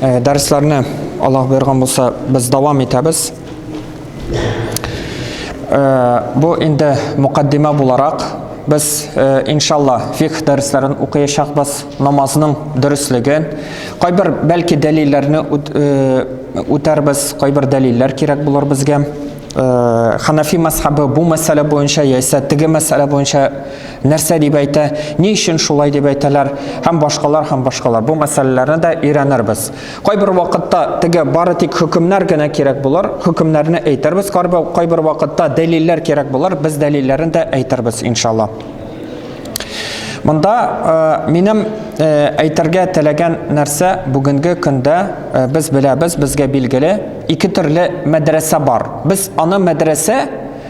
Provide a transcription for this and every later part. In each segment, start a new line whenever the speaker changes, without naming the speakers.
Э, дәресләрне Аллаһ боерган булса, без дәвам итәбез. Э, бу инде мукаддима буларак без э, иншалла фикх дәресләрен укыячакбыз, намазның дөреслеген, кайбер бәлки дәлилләрне үтәрбез, кайбер дәлилләр кирәк булыр безгә. Ханафи мәсхабы бу мәсьәлә буенча яисә теге мәсьәлә буенча Нәрсә дип әйтә, ни өчен шулай дип әйтәләр һәм башкалар һәм башкалар. Бу мәсьәләләрне дә өйрәнербез. Кайбер вакытта теге бары тик хөкемнәр генә кирәк булыр, хөкемнәрне әйтербез, кайбер вакытта дәлилләр кирәк булыр, без дәлилләрен дә әйтербез, иншалла. Монда э, минем э, әйтергә теләгән нәрсә бүгенге көндә э, без беләбез, безгә билгеле, ике төрле мәдрәсә бар. Без аны мәдрәсә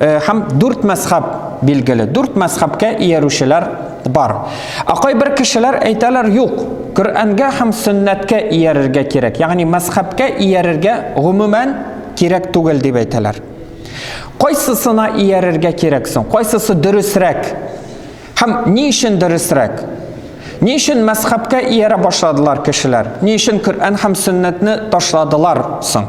Э, һәм дүрт мәзхәб билгеле. Дүрт мәзхәбкә иярүчеләр бар. Ә кайбер кешеләр әйтәләр, юк, Коръәнгә һәм сөннәткә иярергә кирәк. Ягъни мәзхәбкә иярергә гомумән кирәк түгел дип әйтәләр. Кайсысына иярергә кирәк соң? Кайсысы дөресрәк? Һәм ни өчен дөресрәк? Ни өчен мәзхәбкә иярә башладылар кешеләр? Ни өчен Коръән һәм сөннәтне ташладылар соң?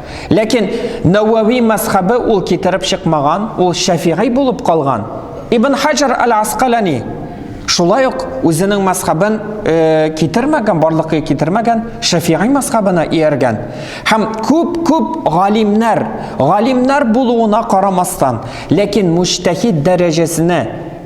Ләкин Нәвәви мәзхәбе ул китереп чыкмаган, ул Шәфигый булып калган. Ибн Хаҗар аль-Аскалани шулай ук үзенең мәзхәбен э, китермәгән, барлыкка китермәгән, Шәфигый мәзхәбенә ияргән. Һәм күп-күп галимнәр, галимнәр булуына карамастан, ләкин мужтәһид дәрәҗәсенә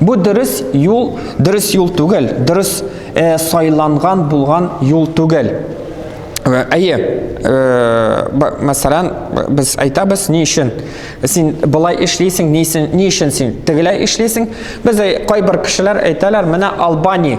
Бу дөрес юл, дөрес юл түгел, дөрес э, сайланган булган юл түгел. Э, әйе, э, мәсәлән, без әйтәбез, ни өчен син былай эшлисең, ни өчен, ни өчен син тегеләй эшлисең? Без кайбер кешеләр әйтәләр, менә Албани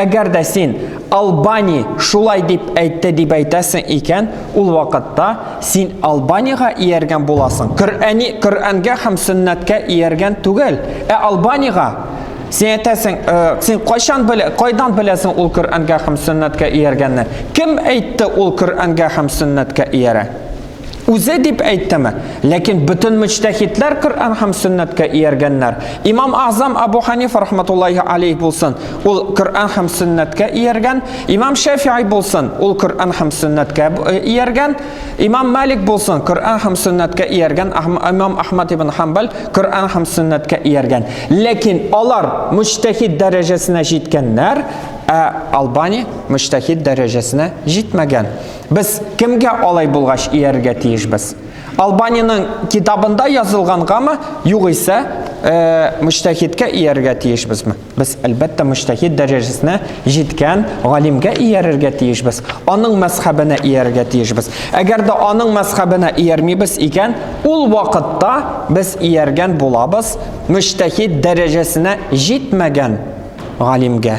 Әгәр дә син Албани шулай дип әйтте дип әйтәсең икән, ул вакытта син Албанига ияргән буласың. Коръәни Коръәнгә һәм сөннәткә ияргән түгел, ә Албанига. Син әйтәсең, э, син кайчан белә, кайдан беләсең ул Коръәнгә һәм сөннәткә ияргәнне? Кем әйтте ул Коръәнгә һәм сөннәткә иярә? Үзе дип әйтәме? Ләкин бөтен мөҗтәһидләр Коръән һәм сөннәткә ияргәннәр. Имам Азам Абу Ханифа рахматуллаһи алейх булсын, ул Коръән һәм сөннәткә ияргән. Имам Шәфи'и булсын, ул Коръән һәм сөннәткә э, ияргән. Имам Малик булсын, Коръән һәм сөннәткә ияргән. Имам Ахмад ибн Хамбал Коръән һәм сөннәткә ияргән. Ләкин алар мөҗтәһид дәрәҗәсенә җиткәннәр, ә Албани мөҗтәһид дәрәҗәсенә җитмәгән. Без кемгә алай булгач иярергә тиешбез? Албаниянең китабында язылгангамы, югыйсә, э, мөҗтәһидкә иярергә тиешбезме? Без, әлбәттә, мөҗтәһид дәрәҗәсенә җиткән галимгә иярергә тиешбез, аның мәзхәбенә иярергә тиешбез. Әгәр дә аның мәзхәбенә иярмибез икән, ул вакытта без ияргән булабыз мөҗтәһид дәрәҗәсенә җитмәгән галимгә.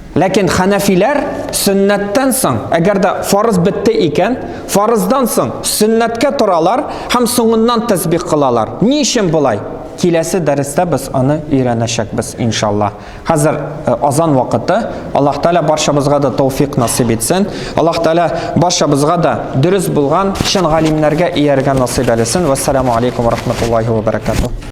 Ләкин хәнәфиләр сөннәттән соң, әгәр дә фарыз бетте икән, фарыздан соң сөннәткә торалар һәм соңыннан тәсбих кылалар. Ни өчен болай? Киләсе дәрестә без аны өйрәнәчәкбез, иншалла. Хәзер э, азан вакыты. Аллаһ Тәгалә барчабызга да тауфик насыйп итсен. Аллаһ Тәгалә барчабызга да дөрес булган чын галимнәргә ияргә насыйп әлесен. Вассаламу алейкум ва рахматуллахи ва баракатуһ.